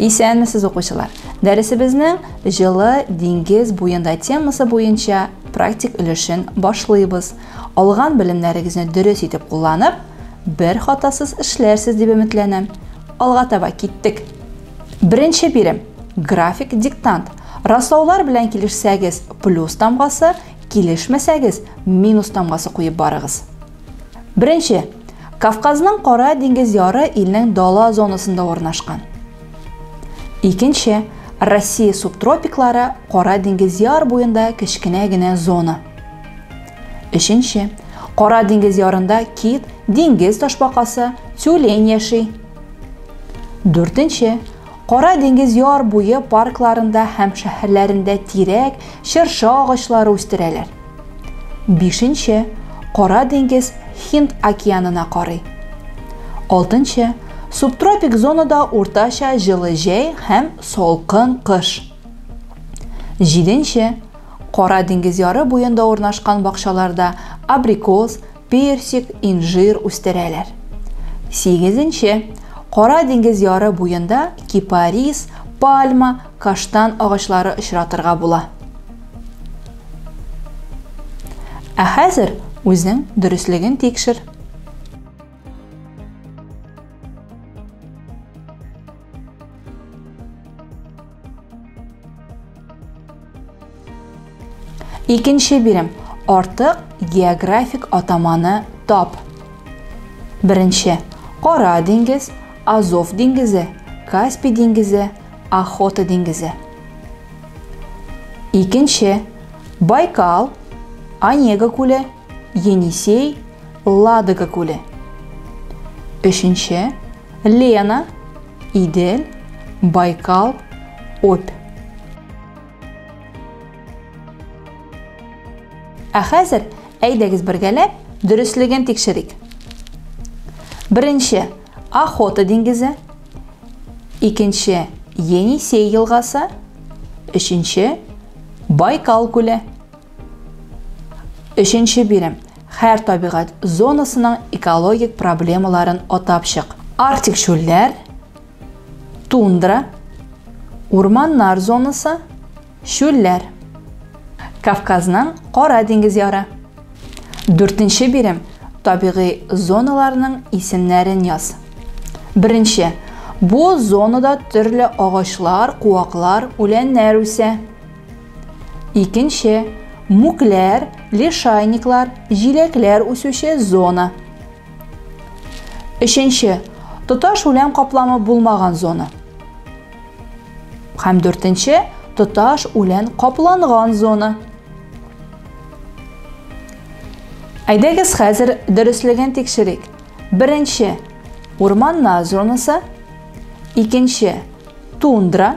Исәнмесез, укучылар! Дәресебезнең җылы диңгез буенда темасы буенча практик өлешен башлыйбыз. Алган белемнәрегезне дөрес итеп кулланып, бер хатасыз эшләрсез дип өметләнәм. Алга таба киттек. Беренче бирем. График диктант. Раслаулар белән килешсәгез, плюс тамгасы, килешмәсәгез, минус тамгасы куеп барыгыз. Беренче. Кавказның Кара диңгез яры илнең дала зонасында урнашкан. Икенче. Россия субтропиклары Кара диңгез яр буенда кечкенә генә зона. Өченче. Кара диңгез ярында кит, диңгез ташбакасы, тюлень яши. Дүртенче. Кара диңгез яр буе паркларында һәм шәһәрләрендә тирәк, чыршы агачлары үстерәләр. Бишенче, Кара диңгез Һинд океанына карый. Алтынчы, Субтропик зонада уртача җылы җәй һәм салкын кыш. Җиденче, Кара диңгез яры буенда урнашкан бакчаларда абрикос, персик, инжир үстерәләр. Сигезенче. Кара диңгез яры буенда кипарис, пальма, каштан агачлары очратырга була. Ә хәзер үзең дөреслеген тикшер. Икенче бирем. Артык географик атаманы тап. Беренче. Кара диңгез, Азов диңгезе, Каспий диңгезе, Охота диңгезе. Икенче. Байкал, Онега күле, Енисей, Ладога күле. Өченче. Лена, Идел, Байкал, Обь. Ә хәзер әйдәгез бергәләп дөреслеген тикшерик. Беренче Охота диңгезе, икенче Енисей елгасы, өченче Байкал күле. Өченче бирем. Хәр табигать зонасының экологик проблемаларын атап чык. Арктик чүлләр, тундра, урманнар зонасы, чүлләр. Кавказның Кара диңгез яры. Дүртенче бирем табигый зоналарның исемнәрен яз. Беренче. Бу зонада төрле агачлар, куаклар, үләннәр үсә. Икенче, мүкләр, лишайниклар, җиләкләр үсүче зона. Өченче, тоташ үлән капламы булмаган зона. Һәм дүртенче, тоташ үлән капланган зона. Әйдәгез хәзер дөреслеген тикшерик. Беренче, урманнар зонасы. Икенче, тундра.